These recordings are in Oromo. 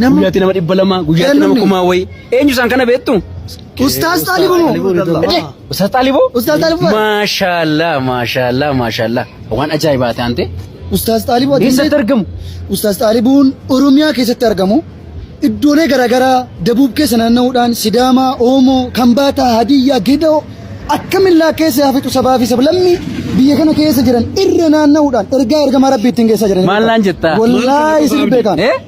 Nama- Guyyaatti nama dhibba lama, guyyaatti nama Kennamni. kumaa wayii. Eenyu isaan kana beektu? Ustaaz Xaalibuu moo? Ede, Ustaz Xaalibuu? Ustaaz Xaalibuu bara. Maashaallah, maashaallah, maashaallah. Waan ajaa'ibaa taante. Ustaaz Xaalibuu ati Eessatti argamu? Ustaaz Xaalibuun Oromiyaa keessatti argamu. Iddoolee garaagaraa Dabuub keessa naanna'uudhaan Sidaamaa, Oomoo, Kambaataa, Hadiyyaa, Gidoo akkamillaa keessa hafixu sabaa fi sablammii biyya kana keessa jiran irra naanna'uudhaan ergaa ergamaa rabbii ittiin geessaa jiran. Maal naan jettaa? Wallaahi isin beekan. Eh?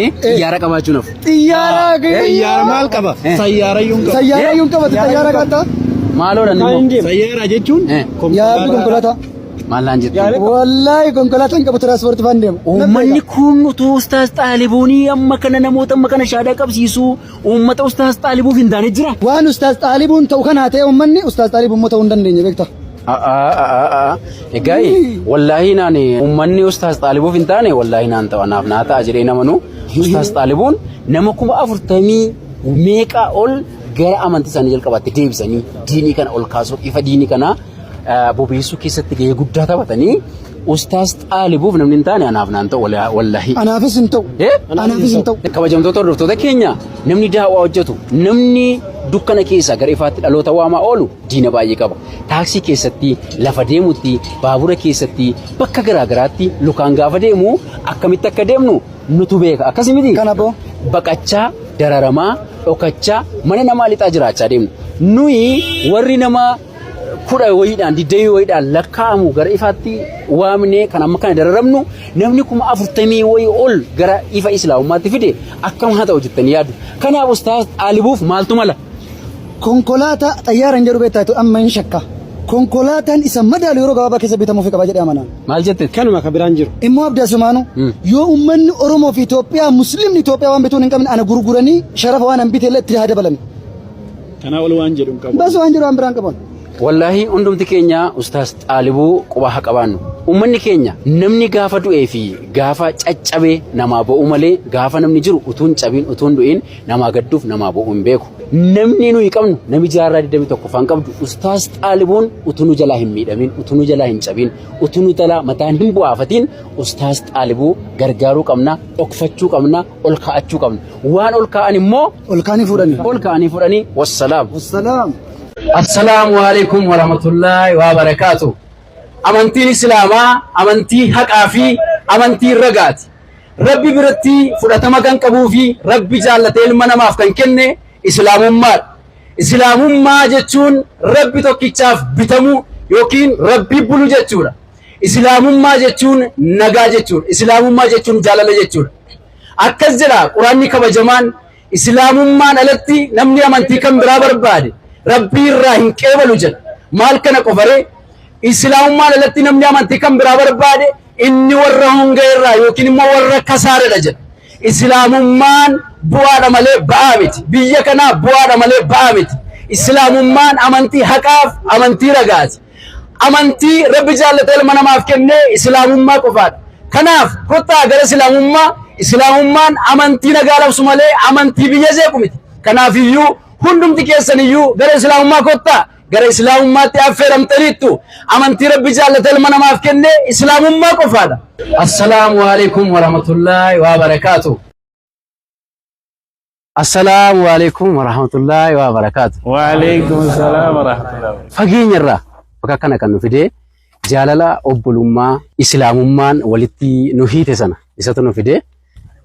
Eh, Xiyyaara qabaachuun hafu. Xiyyaara Xiyyaara maal qaba? Sayyaara iyyuu hin qabu. Sayyaara iyyuu hin qabatu xiyyaara qaata. Maaloo dha nimo. Sayyaara jechuun Eh. Yaabbi konkolaataa. Maal naan jettu? Wallaahi konkolaataa hin qabu tiraanspoortii faan deema. Uummanni kun utuu ustaas xaalibuunii amma kana namoota amma kana shaadaa qabsiisu uummata ustaas xaalibuuf hin taane jira. Waan ustaas xaalibuun ta'u kanaa ta'e uummanni ustaas xaalibuun immoo ta'uu hin dandeenye beektaa. A'aa egaa wallaahi naan uummanni ustaas xaalibuuf hin taane wallaahi naan ta'a naaf naa ta'a jedhee namanu ustaas xaalibuun nama kuma afurtamii meeqaa ol gara amantii isaanii jalqabaatti deebisanii diinii kana ol kaasuuf ifa diinii kanaa bobeessuu keessatti gahee guddaa taphatanii ustaas xaalibuuf namni hin taane anaaf naan ta'u wallaahi. Anaafis hin ta'u. Anaafis hin ta'u. Kabajamtoota hordoftoota keenya namni daawaa hojjetu namni dukkana keessaa gara ifaatti dhaloota waamaa oolu diina baay'ee qaba. taaksii keessatti, lafa deemutti, baabura keessatti, bakka garaa garaatti lukaan gaafa deemu akkamitti akka deemnu nutu beeka. Akkasi miti? Kana boo. Baqachaa, dararamaa, dhokachaa, mana namaa lixaa jiraachaa deemna. Nuyi warri nama kudha wayiidhaan, digdamii wayiidhaan lakkaa'amu gara ifaatti waamnee kan amma kana dararamnu namni kuma afurtamii wayii ol gara ifa islaamummaatti fide akkam haa ta'u jettanii yaadu. Kanaaf ustaaz xaalibuuf maaltu mala? Konkolaataa xayyaara hin jedhu beektaa jettee amma hin shakka. Konkolaataan isa madaalu yeroo gabaabaa keessa bitamuufi qaba jedhee amanaan. Maal jette? Kanuma ka biraan jiru. Immoo Abdi Asumaanu yoo ummanni Oromoo fi Itoophiyaa Muslimni Itoophiyaa waan bituun hin qabne ana gurguranii sharafa waan an bite illee itti haa dabalani. Kanaa ol waan jedhu hin qabu. Bas waan jedhu waan biraan qaban. Wallaahi hundumti keenya ustaas xaalibuu qubaa haa qabaannu. Uummanni keenya namni gaafa du'ee fi gaafa caccabee namaa ba'uu malee gaafa namni jiru utuun cabiin utuun du'iin Namaa gadduuf namaa bo'uu hin beeku. Namni nuyi qabnu nami jaarraa 21ffaan qabdu ustaas xaalibuun utuu nu jalaa hin miidhamin utuu nu jalaa hin cabin utuu nu jalaa mataan hin bu'aafatiin ustaas xaalibuu gargaaruu qabna dhokfachuu qabna ol kaa'achuu qabna waan ol kaa'an immoo ol kaa'anii fuudhanii ol kaa'anii fuudhanii wassalaam. Wassalaam. Assalaamu alaikum warahmatullaahi wabarakaatu. Amantiin Islaamaa amantii haqaa fi amantii ragaati. Rabbi biratti fudhatama kan qabuu fi Rabbi jaallatee ilma namaaf kan kenne Islaamummaadha. Islaamummaa jechuun Rabbi tokkichaaf bitamuu yookiin Rabbi bulu jechuudha. Islaamummaa jechuun nagaa jechuudha. Islaamummaa jechuun jaalala jechuudha. Akkas jedha Quraanni kabajamaan Islaamummaan alatti namni amantii kan biraa barbaade Rabbii irraa hin qeebalu jedha. Maal kana qofaree? Islaamummaan alatti namni amantii kan biraa barbaade inni warra hongee irraa yookiin immoo warra kasaaradha jedha. Islaamummaan bu'aadha malee ba'aa miti. Biyya kanaa bu'aadha malee ba'aa miti. Islaamummaan amantii haqaaf amantii ragaati. Amantii Rabbi jaallatee ilma namaaf kenne Islaamummaa qofaadha. Kanaaf kottaa gara Islaamummaa, Islaamummaan amantii nagaa labsu malee amantii biyya jeequ miti. Kanaafiyyuu hundumti keessaniyyuu gara Islaamummaa kottaa, gara Islaamummaatti affeeramtaniittu. Amantii Rabbi jaallatee ilma namaaf kenne Islaamummaa qofaadha. Assalaamu alaikum warahmatullaahi wabarakaatuh. Assalaamu alaikum warahmatullahi wabarakaatu. Waaleykum salaam warahmatullahi Fageenya irraa bakka kana kan nu fide jaalala obbolummaa islaamummaan walitti nu hiite sana isatu nu fide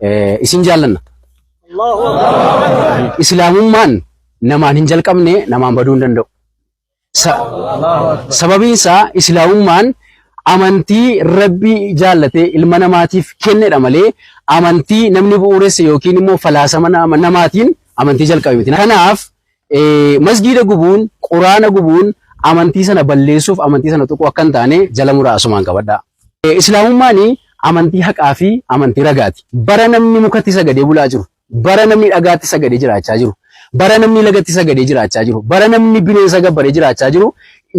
eh, isin jaallanna. Islaamummaan namaan hin jalqabne namaan baduu hin danda'u. Sa- sababiin isaa islaamummaan amantii rabbii jaallatee ilma namaatiif kennedha malee amantii namni bu'uuresse yookiin immoo falaasama nama- namaatiin amantii jalqabe miti. Kanaaf eh, masgiida gubuun, quraana gubuun amantii sana balleessuuf amantii sana tuquu akka hin taane jala muraa asumaan qabadhaa. Eh, Islaamummaan amantii haqaa fi amantii ragaati. Bara namni mukatti sagadee bulaa jiru, Bara namni dhagaatti sagadee jiraachaa jiru, bara namni lagatti sagadee jiraachaa jiru, bara namni bineensa gabbaree jiraachaa jiru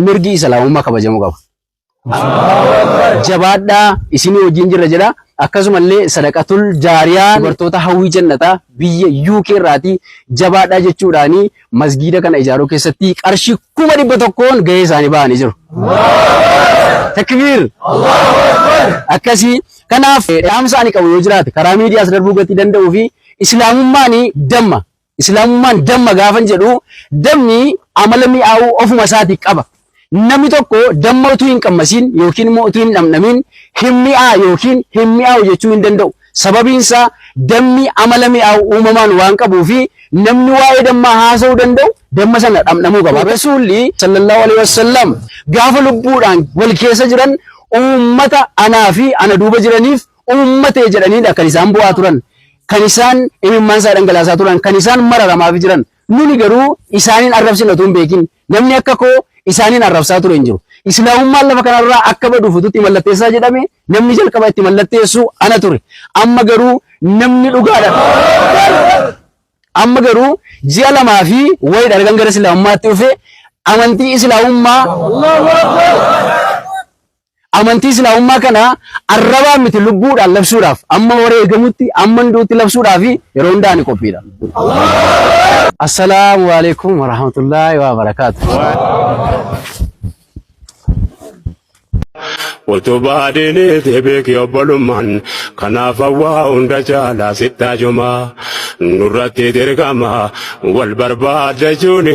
mirgi Islaamummaa kabajamuu qaba. Jabaadhaa isinii wajjin jirra jedha. Akkasumallee sadaqatul jaariyaa dubartoota hawwii jannataa biyya UK irraatii jabaadhaa jechuudhaanii masgiida kana ijaaruu keessatti qarshii kuma dhibba tokkoon gahee isaanii ba'anii jiru. Takbiir! Akkasii kanaaf dhaamsa ani qabu yoo jiraate karaa miidiyaas darbuu gatii danda'uu fi islaamummaan damma. Islaamummaan damma gaafan jedhu dammi amala mi'aawuu ofuma isaatii qaba. Namni tokko damma utuu hin qammasiin yookiin immoo utuu hin dhamdhamiin hin mi'aa yookiin hin mi'aawu jechuu hin danda'u. Sababiin isaa dammi amala mi'aawu uumamaan waan qabuu fi namni waa'ee dammaa haasa'uu danda'u damma sana dhamdhamuu qaba. Rasuulli sallallahu alaihi wasallam gaafa lubbuudhaan wal keessa jiran uummata anaa fi ana duuba jiraniif uummatee jedhaniidha kan isaan bu'aa turan. Kan isaan imimmaan isaa dhangalaasaa turan. Kan isaan mararamaaf jiran. Nuni garuu isaaniin arrabsina utuu hin beekin. Namni akka koo isaaniin arrabsaa ture hin jiru. Islaamummaan lafa kanarraa akka baduuf utuu itti mallatteessaa jedhame namni jalqaba itti mallatteessu ana ture. Amma garuu namni dhugaadhaan Amma garuu ji'a lamaa fi wayiidha ergan gara Islaamummaatti dhufe amantii Islaamummaa Amantii Islaamummaa kana arrabaan miti lubbuudhaan labsuudhaaf amma wareegamutti amman du'utti labsuudhaafi yeroo hunda ani qophiidha. Assalaamu alaikum warahmatullaahi wabarakaatu. Utubaa diiniiti beeki obbolummaan kanaaf hawwaa hunda caalaa sittaa jumaa nurratti dirqama wal barbaaddachuuni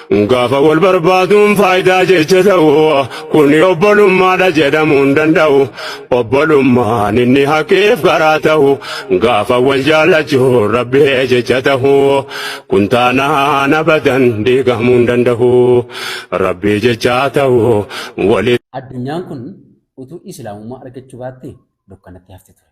Gaafa wal barbaaduun faayidaa jecha ta'u kuni obbolummaadha jedhamuu hin danda'u. Obbolummaan inni haqeef karaa ta'u gaafa wal jaallachuun rabbee jecha ta'u kun taanaan abadan diigamuu hin danda'u. Rabbii jechaa ta'u waliin. Addunyaan kun utuu islaamummaa argachuu baattee dukkanatti hafti ture.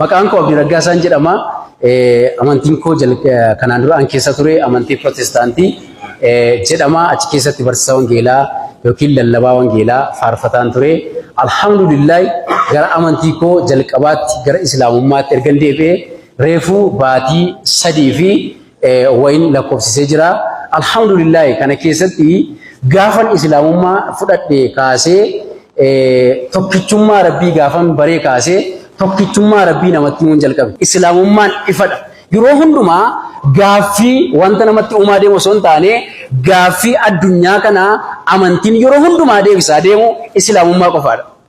Maqaan koo Abdii Raggaasaan jedhama. Amantiin koo kanaan dura an keessa ture amantii Pirootestaantii jedhama. Achi keessatti barsiisaa wangeelaa yookiin lallabaa wangeelaa faarfataan ture. Alhamdulillahi gara amantii koo jalqabaatti gara Islaamummaatti ergan deebi'e reefuu baatii sadii fi wayin lakkoofsisee jira. Alhamdulillahi kana keessatti gaafan islaamummaa fudhadhe kaasee tokkichummaa rabbii gaafan baree kaasee tokkichummaa rabbii namatti himuun jalqabe. Islaamummaan ifadha. Yeroo hundumaa gaaffii wanta namatti uumaa deemu osoo hin taane gaaffii addunyaa kana amantiin yeroo hundumaa deebisaa deemu islaamummaa qofaadha.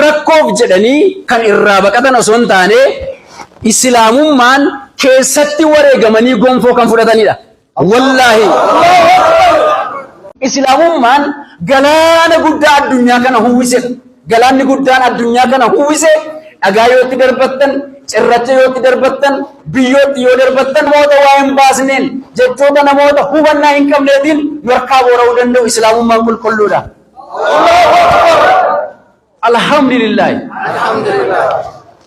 rakkoof jedhanii kan irraa baqatan osoo hin taane islaamummaan keessatti wareegamanii gonfoo kan fudhatanidha. Wallaahi. Islaamummaan galaana guddaa addunyaa kana huwwise. Galaanni guddaan addunyaa kana huwwise dhagaa yoo itti darbattan, cirracha yoo itti darbattan, biyyoo itti yoo darbattan namoota waa hin baasneen jechoota namoota hubannaa hin qabneetiin nu harkaa boora'uu danda'u islaamummaan qulqulluudha. Alhamdulillaahi.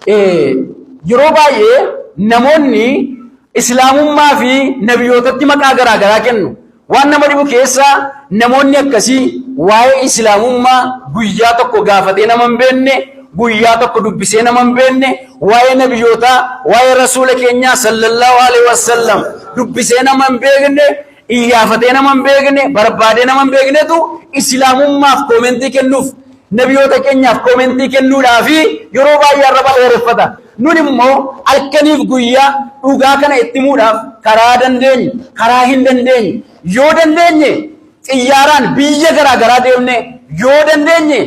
Eh, Yeroo baay'ee namoonni islaamummaa fi nabiyootatti maqaa garaa garaa kennu. Waan nama dhibu keessaa namoonni akkasii waa'ee islaamummaa guyyaa tokko gaafatee nama hin beekne, guyyaa tokko dubbisee nama hin beekne, waa'ee nabiyootaa, waa'ee rasuula keenyaa sallallahu alaihi wasallam dubbisee nama hin beekne Iyyaafatee nama hin beekne, barbaadee nama hin beeknetu Islaamummaaf koomentii kennuuf, nabiyoota keenyaaf koomentii kennuudhaa fi yeroo baay'ee arraba dheereffata. Nun immoo halkaniif guyyaa dhugaa kana itti himuudhaaf karaa dandeenyu, karaa hin dandeenye, yoo dandeenye xiyyaaraan biyya garaa garaa deemnee, yoo dandeenye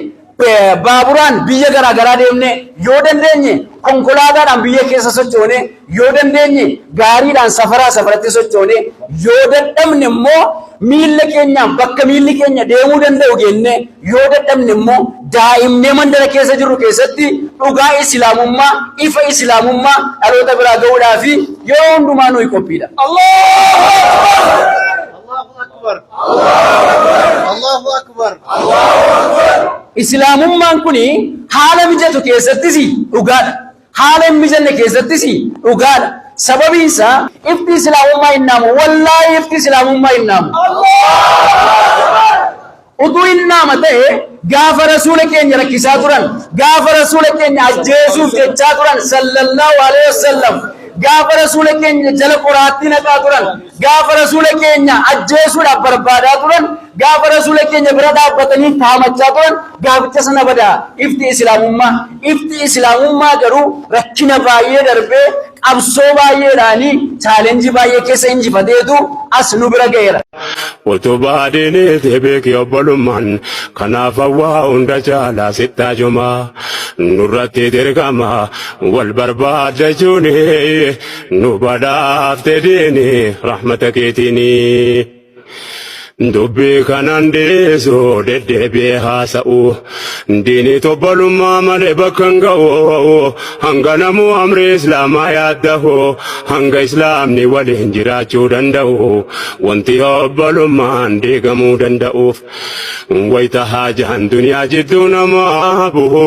baaburaan biyya garaa garaa deemnee yoo dandeenye konkolaataadhaan biyya keessa sochoonee yoo dandeenye gaariidhaan safaraa safaratti sochoonee yoo dadhabne immoo miilla keenyaan bakka miilli keenya deemuu danda'u geennee yoo dadhabne immoo daa'imnee mandara keessa jirru keessatti dhugaa islaamummaa ifa islaamummaa dhaloota biraa ga'uudhaa fi yeroo hundumaa nuyi qophiidha. Allah! Islaamummaan kun haala mijatu keessattis dhugaadha. Haala hin mijanne keessattis dhugaadha. Sababiin isaa ifti Islaamummaa hin dhaamu. Wallaahi ifti Islaamummaa hin dhaamu. Utuu inni nama ta'ee gaafa Rasuula keenya rakkisaa turan, gaafa Rasuula keenya ajjeesuuf jechaa turan sallallahu aleyh wassallam, gaafa Rasuula keenya jala qoraattii naqaa turan, gaafa Rasuula keenya ajjeesuudhaaf barbaadaa turan, gaafa Rasuula keenya bira dhaabbatanii taamachaa turan gaaficha sana bada ifti Islaamummaa. Ifti Islaamummaa garuu rakkina baay'ee darbee Qabsoo baay'eedhaan challenge baay'ee keessa injifateetu as nu bira ga'eera. Utuu baadiinii fi beekii obbolummaan kanaaf hawwaa hunda caalaa sittaa jumaa nurratti dirqama wal barbaaddachuuni nu badhaafte diini rahmata keetiini. Dubbii kanaan dhiisu deddeebi'ee haasa'u. Diini tobbalummaa malee bakka hin ga'u. Hanga namuu amrii Islaamaa yaaddahu. Hanga Islaamni waliin jiraachuu danda'u. Wanti obbalummaan diigamuu danda'uuf. Wayita haajaan duniyaa jidduu namaa bu'u.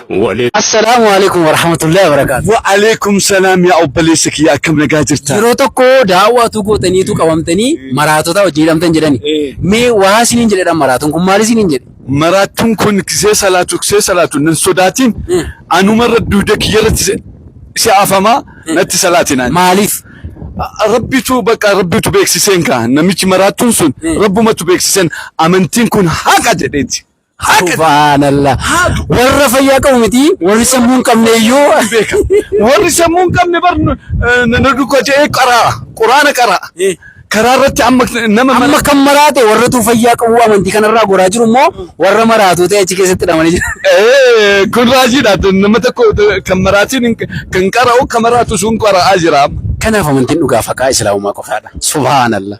Wale. Assalaamu Aleeykum Warahmatullahi Wabarakaatu. Wa aleekum salaam yaa obboleessa kiyya akkam nagaa jirta? Yeroo tokko daawwaa utuu gootaniitu qabamtanii maraatotaa wajjin hidhamtan jedhani. Mee waa isiniin jedhedha maraatoon kun maal isiniin jedhe? Maraattuun kun kisee salaatu kisee salaatu nan sodaatiin anuma irra duuda kiyya irratti si- si afamaa natti salaatinaan. Maaliif? Rabbitu bakka rabbitu beeksiseen kaa namichi maraattuun sun rabbumatu beeksiseen amantiin kun haqa jedheeti. Subhaanallah. Warra fayyaa qabu miti warri sammuu hin qabne iyyuu beeka. Warri sammuu hin qabne bar na duukaa ta'ee qaraa quraana qaraa. Karaa irratti amma nama amma kan maraate warratu fayyaa qabu amantii kanarraa goraa jiru immoo warra maraatuu ta'e achi keessatti hidhamanii jiru. Kun raajiidha nama tokko kan maraatiin kan qara'u kan maraatu sun qara'aa jira. Kanaaf amantiin dhugaa faqaa islaamummaa qofaadha. Subhaanallah.